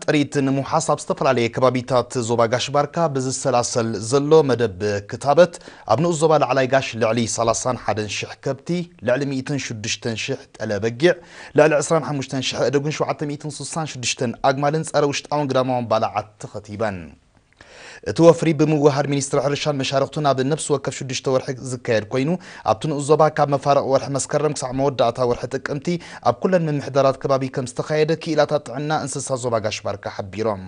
ጥሪት ንምውሓስ ኣብ ዝተፈላለየ ከባቢታት ዞባ ጋሽ ባርካ ብዝሰላሰል ዘሎ መደብ ክታበት ኣብ ንኡስ ዞባ ላዕላይ ጋሽ ልዕሊ ሰላሳን ሓደን ሽሕ ከብቲ፣ ልዕሊ ሚእትን ሽዱሽተን ሽሕ ጠለ በጊዕ፣ ልዕሊ ዕስራን ሓሙሽተን ሽሕ ኣእዱግን ሸውዓተ ሚእትን ስሳን ሽዱሽተን ኣግማልን ጸረ ውሽጣውን ግዳማውን ባልዓት ተኸቲበን። እቲ ወፍሪ ብምውህሃድ ሚኒስትሪ ሕርሻን መሻርኽቱን ኣብ ነብሲ ወከፍ ሽዱሽተ ወርሒ ዝካየድ ኮይኑ፣ ኣብቲ ንኡስ ዞባ ካብ መፋርቕ ወርሒ መስከረም ክሳዕ መወዳእታ ወርሒ ጥቅምቲ ኣብ ኩለን ምምሕዳራት ከባቢ ከምዝተኻየደ ክኢላታት ጥዕና እንስሳ ዞባ ጋሽ-ባርካ ሓቢሮም።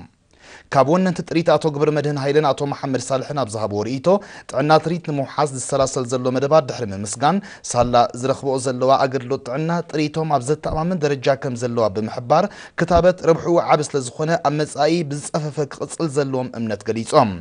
ካብ ወነንቲ ጥሪት ኣቶ ግብረመድህን ሃይለን ኣቶ መሓመድ ሳልሕን ኣብ ዝሃብዎ ርእይቶ፣ ጥዕና ትርኢት ንምውሓስ ዝሰላሰል ዘሎ መደባት ድሕሪ ምምስጋን፣ ሳላ ዝረኽበኦ ዘለዋ ኣገልግሎት ጥዕና ጥሪቶም ኣብ ዘተኣማምን ደረጃ ከምዘለዋ ብምሕባር፣ ክታበት ረብሕኡ ዓቢ ስለዝኾነ ኣብ መጻኢ ብዝጸፈፈ ክቕጽል ዘለዎም እምነት ገሊጾም።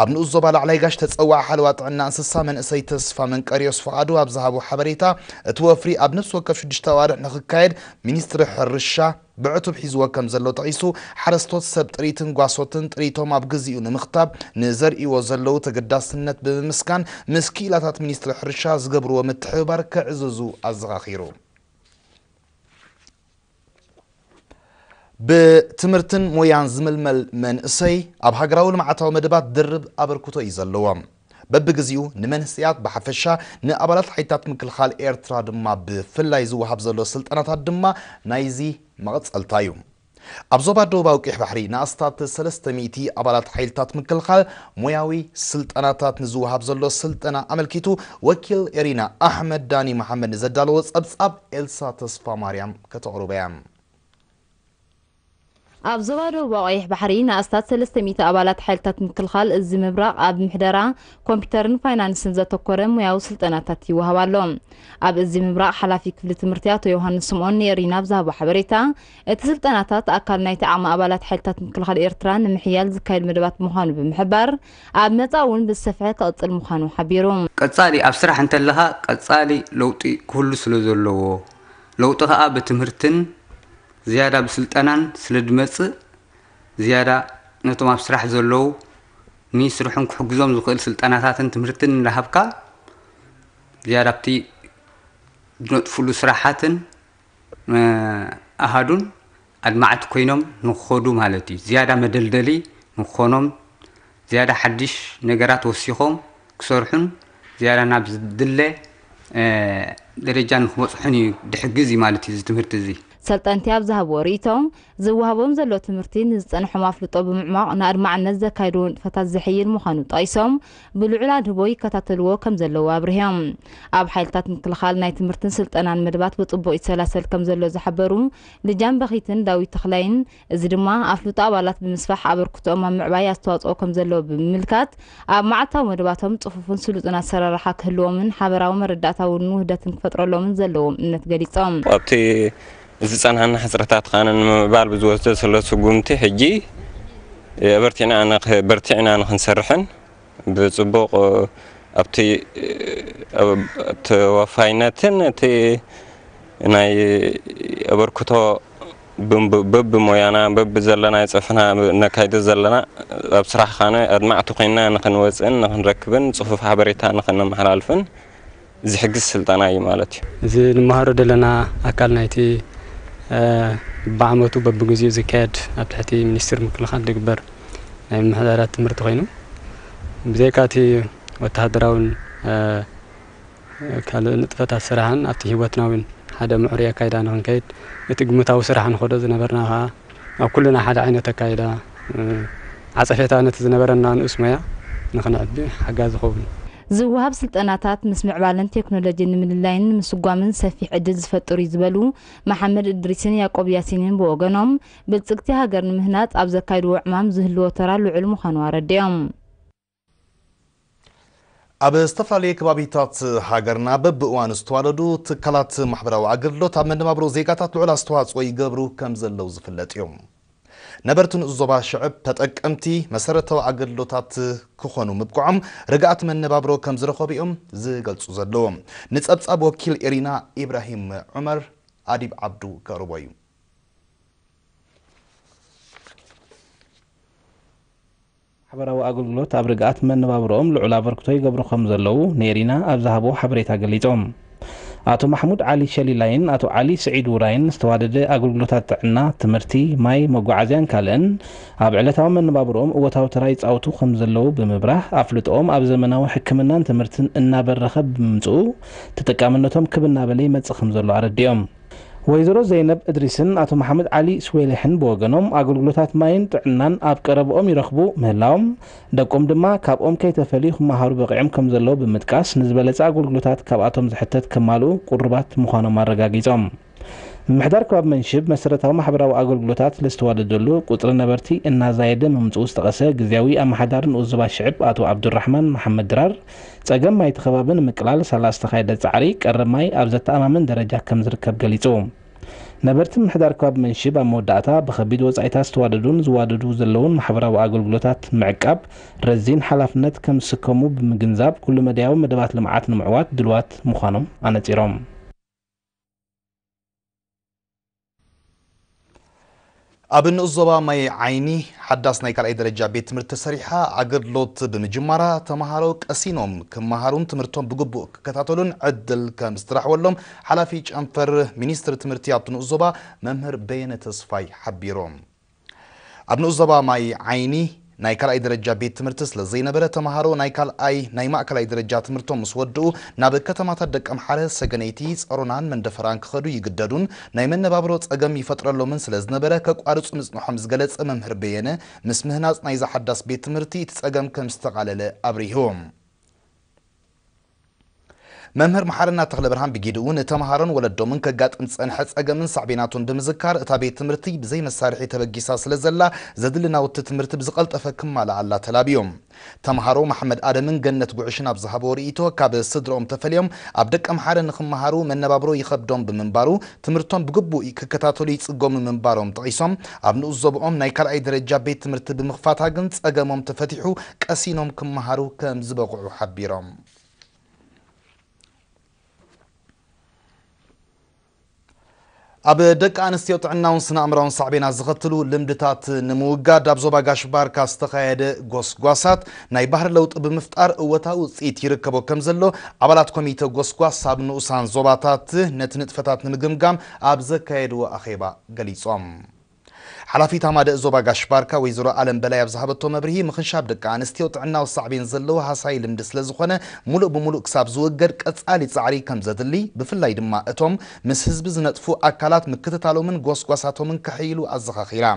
ኣብ ንኡስ ዞባ ላዕላይ ጋሽ ተጸዋዒ ሓለዋ ጥዕና እንስሳ መንእሰይ ተስፋ መንቀርዮስ ፍቓዱ ኣብ ዝሃቦ ሓበሬታ፣ እቲ ወፍሪ ኣብ ነፍሲ ወከፍ ሽዱሽተ ኣዋርሕ ንኽካየድ ሚኒስትሪ ሕርሻ ብዕቱብ ሒዝዎ ከምዘሎ ጠቒሱ፣ ሓረስቶት ሰብ ጥሪትን ጓሶትን ጥሪቶም ኣብ ግዜኡ ንምኽታብ ንዘርእይዎ ዘለዉ ተገዳስነት ብምምስጋን ምስ ክኢላታት ሚኒስትሪ ሕርሻ ዝገብርዎ ምትሕብባር ከዕዝዙ ኣዘኻኺሩ። ብትምህርትን ሞያን ዝምልመል መንእሰይ ኣብ ሃገራዊ ልምዓታዊ መደባት ድርብ ኣበርክቶ እዩ ዘለዎ። በብግዚኡ ንመንህሰያት ብሓፈሻ ንኣባላት ሓይልታት ምክልኻል ኤርትራ ድማ ብፍላይ ዝወሃብ ዘሎ ስልጠናታት ድማ ናይዚ መቐጸልታ እዩ። ኣብ ዞባ ደቡባዊ ቀይሕ ባሕሪ ንኣስታት ሰለስተ ሚእቲ ኣባላት ሓይልታት ምክልኻል ሞያዊ ስልጠናታት ንዝወሃብ ዘሎ ስልጠና ኣመልኪቱ ወኪል ኤሪና ኣሕመድ ዳኒ መሓመድ ንዘዳለዎ ጸብጻብ ኤልሳ ተስፋማርያም ከተቕርቦ እያ። ኣብ ዞባ ደቡባዊ ቀይሕ ባሕሪ ንኣስታት ሰለስተ ሚእቲ ኣባላት ሓይልታት ምክልኻል እዝ ምብራቕ ኣብ ምሕደራ፣ ኮምፒተርን ፋይናንስን ዘተኮረ ሙያዊ ስልጠናታት ይወሃብ ኣሎ። ኣብ እዝ ምብራቕ ሓላፊ ክፍሊ ትምህርቲ ኣቶ ዮውሃንስ ስምኦን ንኤሪና ኣብ ዝሃቦ ሓበሬታ፣ እቲ ስልጠናታት ኣካል ናይቲ ዓቕሚ ኣባላት ሓይልታት ምክልኻል ኤርትራ ንምሕያል ዝካየድ መደባት ምዃኑ ብምሕባር፣ ኣብ መጻኢ እውን ብዝሰፍሐ ክቕጽል ምዃኑ ሓቢሩ። ቀጻሊ ኣብ ስራሕ እንተለኻ ቀጻሊ ለውጢ ክህሉ ስለዘለዎ፣ ለውጢ ከኣ ብትምህርትን ዝያዳ ብስልጠናን ስለድመጽእ ዝያዳ ነቶም ኣብ ስራሕ ዘለዉ ንይስርሑን ክሕግዞም ዝኽእል ስልጠናታትን ትምህርትን እንዳሃብካ ዝያዳ ኣብቲ ድነጥፍሉ ስራሓትን ኣሃዱን ኣድማዕቲ ኮይኖም ንክኸዱ ማለት እዩ። ዝያዳ መደልደሊ ንክኾኖም፣ ዝያዳ ሓድሽ ነገራት ወሲኾም ክሰርሑን ዝያዳ ናብ ዝድለ ደረጃ ንክበፅሑን እዩ ድሕግዝ እዩ ማለት እዩ እዚ ትምህርቲ እዚ። ሰልጠንቲ ኣብ ዝሃብዎ ርኢቶ፣ ዝወሃቦም ዘሎ ትምህርቲ ንዝፀንሖም ኣፍልጦ ብምዕሟቕ ንኣድማዕነት ዘካይድዎ ንጥፈታት ዘሕይል ምዃኑ ጠቒሶም፣ ብልዑል ኣድህቦ ይከታተልዎ ከምዘለዉ ኣብሪሆም። ኣብ ሓይልታት ምክልኻል ናይ ትምህርትን ስልጠናን መደባት ብፅቡቕ ይሰላሰል ከምዘሎ ዝሓበሩ ልጃን በኺትን ዳዊት ተኽላይን፣ እዚ ድማ ኣፍልጦ ኣባላት ብምስፋሕ ኣበርክቶኦም ኣብ ምዕባይ ኣስተዋፅኦ ከምዘለዎ ብምምልካት ኣብ መዓልታዊ መደባቶም ፅፉፍን ስሉጥን ኣሰራርሓ ክህልዎምን ሓበራዊ መረዳእታውን ውህደትን ክፈጥረሎምን ዘለዎም እምነት ገሊፆም። ኣብቲ ዝፀንሓና ሕፅረታት ኸኣ ንምምዕባል ብዝወስዶ ዘሎ ስጉምቲ ሕጂ የበርቲዕና በርቲዕና ንክንሰርሕን፣ ብጽቡቕ ኣብቲ ተወፋይነትን እቲ ናይ ኣበርክቶ በብሞያና በብዘለና ይጸፍና ነካይዶ ዘለና ኣብ ስራሕኻነ ኣድማዕቲ ኮይና ንክንወጽእን ንክንረክብን ጽፉፍ ሓበሬታ ንክነመሓላልፍን ዝሕግዝ ስልጠና እዩ ማለት እዩ። እዚ ንመሃሮ ዘለና ኣካል ናይቲ በብዓመቱ በብግዚኡ ዝካየድ ኣብ ትሕቲ ሚኒስትሪ ምክልኻል ዝግበር ናይ ምምሕዳራት ትምህርቲ ኮይኑ ብዘይካ እቲ ወተሃደራዊን ካልእ ንጥፈታት ስራሕን ኣብቲ ህይወትናዊን ሓደ ምዕሩይ ኣካይዳ ንክንከይድ እቲ ግምታዊ ስራሕ ንኸዶ ዝነበርና ከኣ ኣብ ኩልና ሓደ ዓይነት ኣካይዳ ዓጸፌታ ነቲ ዝነበረና ንኡስ ሞያ ንኽነዕቢ ሓጋዚ ይኸውን። ዝወሃብ ስልጠናታት ምስ ምዕባለን ቴክኖሎጂን ንምልላይን ንምስጓምን ሰፊሕ ዕድል ዝፈጥር'ዩ ዝበሉ መሓመድ እድሪስን ያቆብ ያሲንን ብወገኖም፣ ብልጽግቲ ሃገር ንምህናጽ ኣብ ዘካይድዎ ዕማም ዝህልዎ ተራ ልዑል ምዃኑ ኣረዲኦም። ኣብ ዝተፈላለየ ከባቢታት ሃገርና በብእዋኑ ዝተዋለዱ ትካላት ማሕበራዊ ኣገልግሎት ኣብ መነባብሮ ዜጋታት ልዑል ኣስተዋፅኦ ይገብሩ ከም ዘለዉ ዝፍለጥ እዩ። ነበርቲ ንኡስ ዞባ ሽዕብ ተጠቀምቲ መሰረታዊ ኣገልግሎታት ክኾኑ ምብቅዖም ርግኣት መነባብሮ ከም ዝረኸቡ እዮም ዝገልፁ ዘለዉ። ንፀብፃብ ወኪል ኤሪና ኢብራሂም ዑመር ኣዲብ ዓብዱ ከቕርቦ እዩ። ማሕበራዊ ኣገልግሎት ኣብ ርግኣት መነባብሮኦም ልዑል ኣበርክቶ ይገብሩ ከምዘለዉ ንኤሪና ኣብ ዝሃብዎ ሓበሬታ ገሊፆም። ኣቶ ማሕሙድ ዓሊ ሸሊላይን ኣቶ ዓሊ ስዒድ ውራይን ዝተዋደደ ኣገልግሎታት ጥዕና፣ ትምህርቲ፣ ማይ፣ መጓዓዝያን ካልእን ኣብ ዕለታዊ መነባብሮኦም እወታዊ ተራ ይፃወቱ ከምዘለዉ ብምብራህ ኣፍልጥኦም ኣብ ዘመናዊ ሕክምናን ትምህርትን እናበረኸ ብምምፅኡ ተጠቃምነቶም ክብ እናበለ ይመፅእ ከምዘሎ ኣረዲኦም። ወይዘሮ ዘይነብ እድሪስን ኣቶ መሓመድ ዓሊ ስዌሊሕን ብወገኖም ኣገልግሎታት ማይን ጥዕናን ኣብ ቀረበኦም ይረኽቡ ምህላዎም ደቆም ድማ ካብኦም ከይተፈልዩ ክመሃሩ በቒዕም ከምዘለዉ ብምጥቃስ ንዝበለፀ ኣገልግሎታት ካብኣቶም ዝሕተት ከማልኡ ቁሩባት ምዃኖም ኣረጋጊፆም። ምምሕዳር ከባቢ መንሽብ መሰረታዊ ማሕበራዊ ኣገልግሎታት ለዝተዋደደሉ ቁፅሪ ነበርቲ እናዛየደ ምምፅኡ ዝጠቐሰ ግዝያዊ ኣመሓዳሪ ንኡስ ዞባ ሽዕብ ኣቶ ኣብዱራሕማን መሓመድ ድራር ፀገም ማይ'ቲ ከባቢ ንምቅላል ሳላ ዝተኻየደ ፃዕሪ ቀረብ ማይ ኣብ ዘተኣማምን ደረጃ ከምዝርከብ ገሊፁ። ነበርቲ ምምሕዳር ከባቢ መንሽብ ኣብ መወዳእታ ብኸቢድ ወፃኢታት ዝተዋደዱን ዝዋደዱ ዘለዉን ማሕበራዊ ኣገልግሎታት ምዕቃብ ረዚን ሓላፍነት ከምዝስከሙ ብምግንዛብ ኩሉ መዳያዊ መደባት ልምዓት ንምዕዋት ድልዋት ምዃኖም ኣነፂሮም። ኣብ ንኡስ ዞባ ማይ ዓይኒ ሓዳስ ናይ ካልኣይ ደረጃ ቤት ትምህርቲ ተሰሪሓ ኣገልግሎት ብምጅማራ ተምሃሮ ቀሲኖም ክመሃሩን ትምህርቶም ብግቡእ ክከታተሉን ዕድል ከም ዝተረሕወሎም ሓላፊ ጨንፈር ሚኒስትሪ ትምህርቲ ኣብቲ ንኡስ ዞባ መምህር በየነ ተስፋይ ሓቢሮም። ኣብ ንኡስ ዞባ ማይ ዓይኒ ናይ ካልኣይ ደረጃ ቤት ትምህርቲ ስለ ዘይነበረ ተምሃሮ ናይ ካልኣይ ናይ ማእከላይ ደረጃ ትምህርቶም ምስ ወድኡ ናብ ከተማታት ደቀምሓረ፣ ሰገነይቲ፣ ጸሮናን መንደፈራን ክኸዱ ይግደዱን ናይ መነባብሮ ጸገም ይፈጥረሎምን ስለ ዝነበረ ከቋርጹ ምጽንሖም ዝገለጸ መምህር በየነ ምስ ምህናጽ ናይዛ ሓዳስ ቤት ትምህርቲ እቲ ጸገም ከም ዝተቓለለ ኣብሪሁ። መምህር መሓረና ተኽለብርሃን ብጊድኡ'ውን ንተመሃሮን ወለዶምን ከጋጥም ዝጸንሐ ጸገምን ሳዕቤናቱን ብምዝካር፣ እታ ቤት ትምህርቲ ብዘይ መሳርሒ ተበጊሳ ስለ ዘላ፣ ዘድሊ ናውቲ ትምህርቲ ብዝቐልጠፈ ክማልኣላ ተላብዩ። ተመሃሮ መሓመድ ኣደምን ገነት ጉዕሽን ኣብ ዝሃብዎ ርእይቶ፣ ካብ ስድርኦም ተፈልዮም ኣብ ደቀምሓረ ንኽመሃሩ መነባብሮ ይኸብዶም ብምንባሩ፣ ትምህርቶም ብግቡእ ክከታተሉ ይፅገሙ ምንባሮም ጠቒሶም፣ ኣብ ንኡስ ዞብኦም ናይ ካልኣይ ደረጃ ቤት ትምህርቲ ብምኽፋታ ግን ፀገሞም ተፈቲሑ ቀሲኖም ክመሃሩ ከምዝበቕዑ ሓቢሮም። ኣብ ደቂ ኣንስትዮ ጥዕናውን ስነ ኣእምራውን ሳዕቤናት ዘኸትሉ ልምድታት ንምውጋድ ኣብ ዞባ ጋሽ ባርካ ዝተኻየደ ጎስጓሳት ናይ ባህሪ ለውጢ ብምፍጣር እወታዊ ውፅኢት ይርከቦ ከምዘሎ ኣባላት ኮሚተ ጎስጓስ ኣብ ንኡሳን ዞባታት ነቲ ንጥፈታት ንምግምጋም ኣብ ዘካየድዎ ኣኼባ ገሊፆም። ሓላፊት ሃማደእ ዞባ ጋሽ-ባርካ ወይዘሮ ኣለም በላይ ኣብ ዝሃበቶ መብርሂ፣ ምኽንሻብ ደቂ ኣንስትዮ ጥዕናዊ ሳዕቤን ዘለዎ ሃሳዪ ልምዲ ስለዝኾነ ሙሉእ ብሙሉእ ክሳብ ዝወገድ ቀፃሊ ፃዕሪ ከምዘድሊ ብፍላይ ድማ እቶም ምስ ህዝቢ ዝነጥፉ ኣካላት ምክትታሎምን ጎስጓሳቶምን ከሐይሉ ኣዘኻኺራ።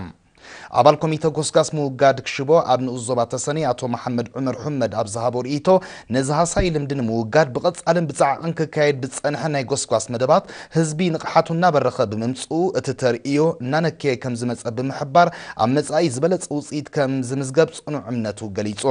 ኣባል ኮሚተ ጎስጋስ ምውጋድ ክሽቦ ኣብ ንኡስ ዞባ ተሰነይ ኣቶ መሓመድ ዑመር ሑመድ ኣብ ዝሃቦ ርእይቶ፣ ነዚ ሃሳዪ ልምዲ ንምውጋድ ብቐጻልን ብጻዕቕን ክካየድ ብዝጸንሐ ናይ ጎስጓስ መደባት ህዝቢ ንቕሓቱ እናበረኸ ብምምጽኡ እቲ ተርእዮ እናነከየ ከምዝመጸ ብምሕባር ኣብ መጻኢ ዝበለጸ ውጽኢት ከምዝምዝገብ ጽኑዕ እምነቱ ገሊጹ።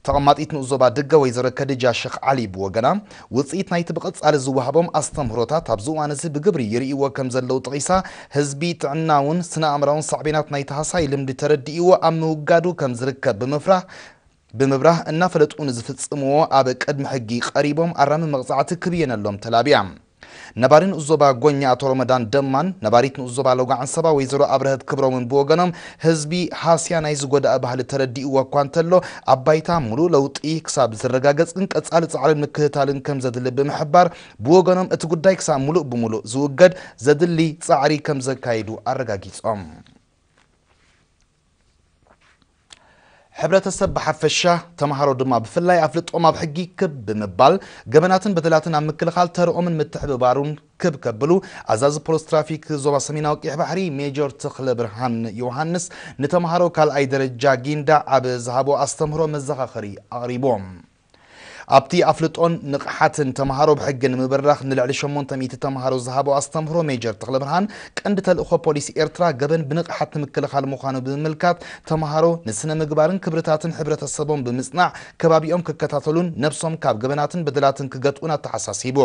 ተቐማጢት ንኡስ ዞባ ድገ ወይዘሮ ከድጃ ሸኽ ዓሊ ብወገና፣ ውጽኢት ናይቲ ብቐጻሊ ዝወሃቦም ኣስተምህሮታት ኣብዚ እዋን'ዚ ብግብሪ ይርእይዎ ከምዘለዉ ጠቒሳ፣ ህዝቢ ጥዕናውን ስነ-ኣእምራውን ሳዕቤናት ናይቲ ሃሳዪ ልምዲ ተረዲእዎ ኣብ ምውጋዱ ከምዝርከብ ብምፍራህ ብምብራህ፣ እናፈለጡ ንዝፍጽምዎ ኣብ ቅድሚ ሕጊ ቀሪቦም ኣራሚ መቕጻዕቲ ክብየነሎም ተላብያ። ነባሪ ንኡስ-ዞባ ጎኛ ኣቶ ሮመዳን ደማን ነባሪት ንኡስ-ዞባ ሎጋዓንሰባ ወይዘሮ ኣብረሀት ክብሮምን ብወገኖም፣ ህዝቢ ሃስያ ናይዚ ጎዳኢ ባህሊ ተረዲእዎ እኳ እንተሎ፣ ኣብ ባይታ ምሉእ ለውጢ ክሳብ ዝረጋገጽ ግን ቀጻሊ ጻዕርን ምክትታልን ከምዘድሊ ብምሕባር፣ ብወገኖም እቲ ጉዳይ ክሳብ ምሉእ ብምሉእ ዝውገድ ዘድሊ ጻዕሪ ከምዘካይዱ ኣረጋጊጾም። ሕብረተሰብ ብሓፈሻ ተምሃሮ ድማ ብፍላይ ኣፍልጦም ኣብ ሕጊ ክብ ብምባል ገበናትን በደላትን ኣብ ምክልኻል ተርኦምን ምትሕብባሩን ክብ ከብሉ ኣዛዚ ፖሊስ ትራፊክ ዞባ ሰሜናዊ ቀይሕ ባሕሪ ሜጀር ተኽለብርሃን ዮሃንስ ንተምሃሮ ካልኣይ ደረጃ ጊንዳዕ ኣብ ዝሃቦ ኣስተምህሮ መዘኻኸሪ ኣቕሪቦም። ኣብቲ ኣፍልጦን ንቕሓትን ተምሃሮ ብሕጊ ንምብራኽ ንልዕሊ ሸሞንተ ሚእቲ ተምሃሮ ዝሃቦ ኣስተምህሮ ሜጀር ተኽለብርሃን፣ ቀንዲ ተልእኾ ፖሊስ ኤርትራ ገበን ብንቕሓት ንምክልኻል ምዃኑ ብምምልካት፣ ተምሃሮ ንስነ-ምግባርን ክብርታትን ሕብረተሰቦም ብምጽናዕ ከባቢኦም ክከታተሉን ነብሶም ካብ ገበናትን በደላትን ክገትኡን ኣተሓሳሲቡ።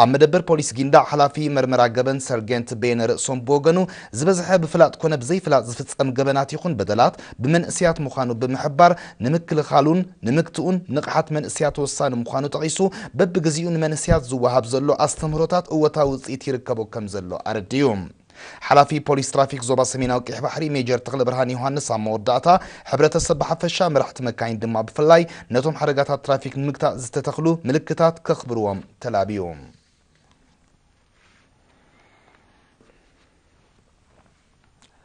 ኣብ መደበር ፖሊስ ጊንዳዕ ሓላፊ መርመራ ገበን ሰርጌንት በየነ ርእሶም ብወገኑ፣ ዝበዝሐ ብፍላጥ ኮነ ብዘይፍላጥ ዝፍጸም ገበናት ይኹን በደላት ብመንእሰያት ምዃኑ ብምሕባር፣ ንምክልኻሉን ንምግትኡን ንቕሓት መንእሰያት ወሳኒ ምዃኑ ጠቒሱ፣ በብግዜኡ ንመንእሰያት ዝወሃብ ዘሎ ኣስተምህሮታት እወታዊ ውጽኢት ይርከቦ ከምዘሎ ኣረዲኡ። ሓላፊ ፖሊስ ትራፊክ ዞባ ሰሜናዊ ቀይሕ ባሕሪ ሜጀር ተኽለብርሃን ዮሃንስ ኣብ መወዳእታ፣ ሕብረተሰብ ብሓፈሻ መራሕቲ መካይን ድማ ብፍላይ ነቶም ሓደጋታት ትራፊክ ንምግታእ ዝተተኽሉ ምልክታት ከኽብርዎም ተላብዩ።